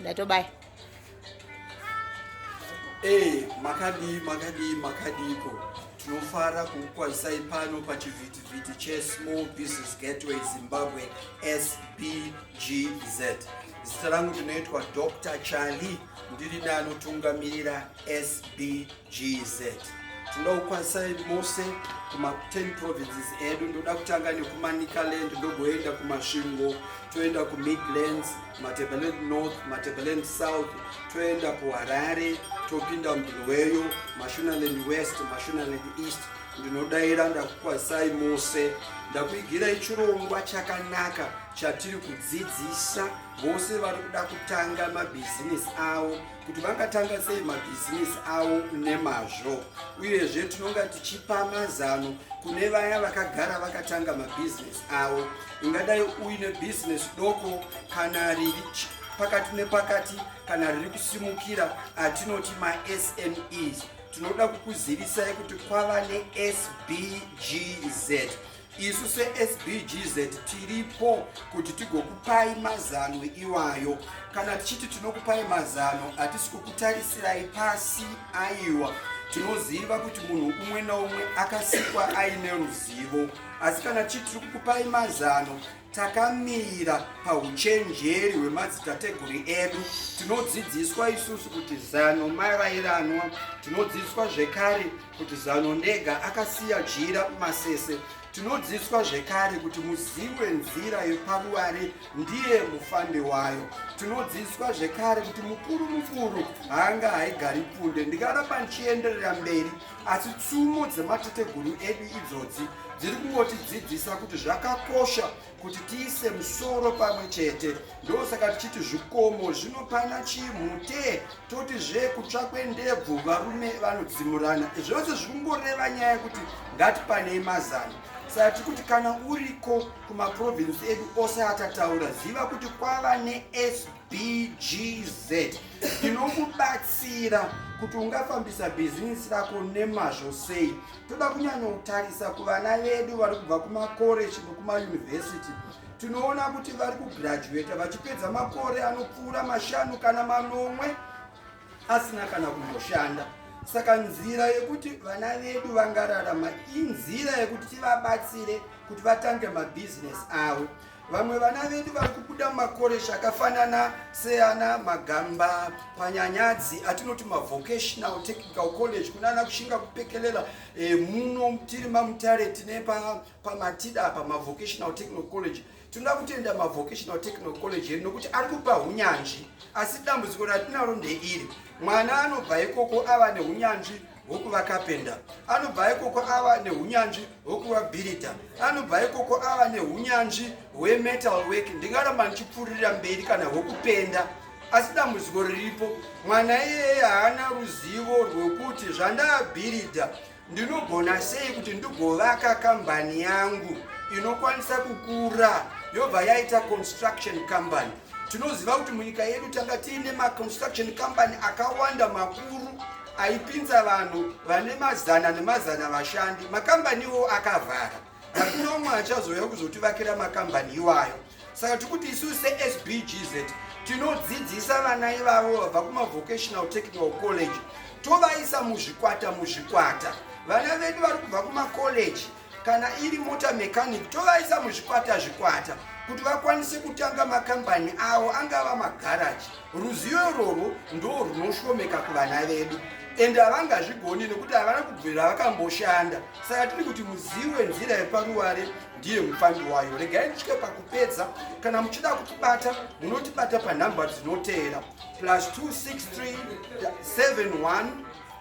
ndatobaya ee makadii makadii makadiiko tinofara kukukwazisai pano pachivhitivhiti chesmall business gateway zimbabwe sbgz zita rangu ndinoitwa dr charlie ndiri neanotungamirira sbgz GZ tinoukwanisai mose kuma 10 provinces edu ndoda kutanga nekumanicaland ndogoenda kumasvingo toenda kumidlands matebaland north matebaland south toenda kuharare topinda mudhuluweyo mashunaland west mashunaland east ndinodaira ndakukwazisai mose ndakuigirai chirongwa chakanaka chatiri kudzidzisa vose vari kuda kutanga mabhizinesi avo kuti vangatanga sei mabhizinesi avo nemazvo uyezve tinonga tichipa mazano kune vaya vakagara vakatanga mabhizinesi avo ungadai uine bhizinesi doko kana riri pakati nepakati kana riri kusimukira atinoti masmes tinoda kukuzivisai kuti kwava nesbgz isu sesbgz tiripo kuti tigokupai mazano iwayo kana tichiti tinokupai mazano hatisi kukutarisirai pasi aiwa tinoziva kuti munhu umwe naumwe akasikwa aine ruzivo asi kana tichiti tiri kukupai mazano Takamira pauchenjeri hwemadzitateguru edu. Tinodzidziswa isusu kuti zano marairanwa. Tinodzidziswa zvekare kuti zano ndega akasiya jira masese. Tinodzidziswa zvekare kuti muzivi wenzira yeparuware ndiye mufambi wayo. Tinodzidziswa zvekare kuti mukuru mukuru haanga haigari pfunde. Ndikaramba ndichienderera mberi asi tsumo dzematateguru edu idzodzi dziri kungotidzidzisa kuti zvakakosha kuti tiise musoro pamwe chete ndosaka tichiti zvikomo zvinopana chimute toti zve kutsvakwe ndebvu varume vanodzimurana zvose zviri kungoreva nyaya yekuti ngatipanei mazano saka tiri kuti kana uriko kumaprovinsi edu ose atataura ziva kuti kwava nesp bgz inokubatsira kuti ungafambisa bhizinisi rako nemazvo sei toda kunyanyotarisa kuvana vedu vari kubva kumakoreji nekumayunivhesiti tinoona kuti vari kugraduata vachipedza makore anopfuura mashanu kana manomwe asina kana kumboshanda saka nzira yekuti vana vedu vangararama inzira yekuti tivabatsire kuti vatange mabhizinesi avo Vamwe vana vedu vari kubuda mumakoreji akafanana seana Magamba, Panyanyadzi atinoti mavocational technical college kunana kushinga kupekelela e, eh, muno tiri mamutare tine pamatida pa pamavocational technical college tinoda kutenda mavocational technical college edu nokuti ari kupa unyanzvi asi dambudziko ratinaro ndeiri mwana anobva ikoko ava neunyanzvi hwokuva kapenda anobva ikoko ava neunyanzvi hwokuva bhirita anobva ikoko ava neunyanzvi hwemetal work ndingaramba ndichipfuririra mberi kana hwokupenda asi dambudziko riripo mwana iyeye haana ruzivo rwekuti zvandaabhiridha ndinogona sei kuti ndigovaka kambani yangu inokwanisa kukura yobva yaita construction company Tinoziva kuti munyika yedu tanga tiine maconstruction company akawanda makuru aipinza vanhu vane mazana nemazana vashandi. Makambani iwo akavhara, hakuna umwe achazouya kuzotivakira makambani iwayo. Saka tiri kuti isu seSBGZ tinodzidzisa vana ivavo vabva kumavocational technical college tovaisa muzvikwata muzvikwata vana vedu vari kubva kumakoleji kana iri mota mechanic tovaisa muzvikwata zvikwata kuti vakwanise kutanga makambani avo angava magaraji ruzivo irworwo ndo rwunoshomeka kuvana vedu ende havangazvigoni nekuti havana kubvira vakamboshanda saka tiri kuti muzivi wenzira yeparuware ndiye mufambi wayo regai nditye pakupedza kana muchida kutibata munotibata panhamba dzinoteera plus 26371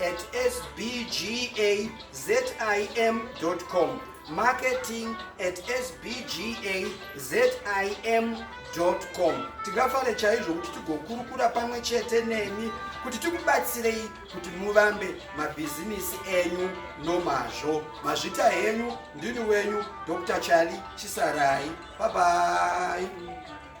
at sbgazim.com marketing at sbgazim.com tingafare chaizvo kuti tigokurukura pamwe chete nemi kuti tikubatsirei kuti muvambe mabhizimisi enyu nomazvo mazvita henyu ndini wenyu dr chali chisarai babai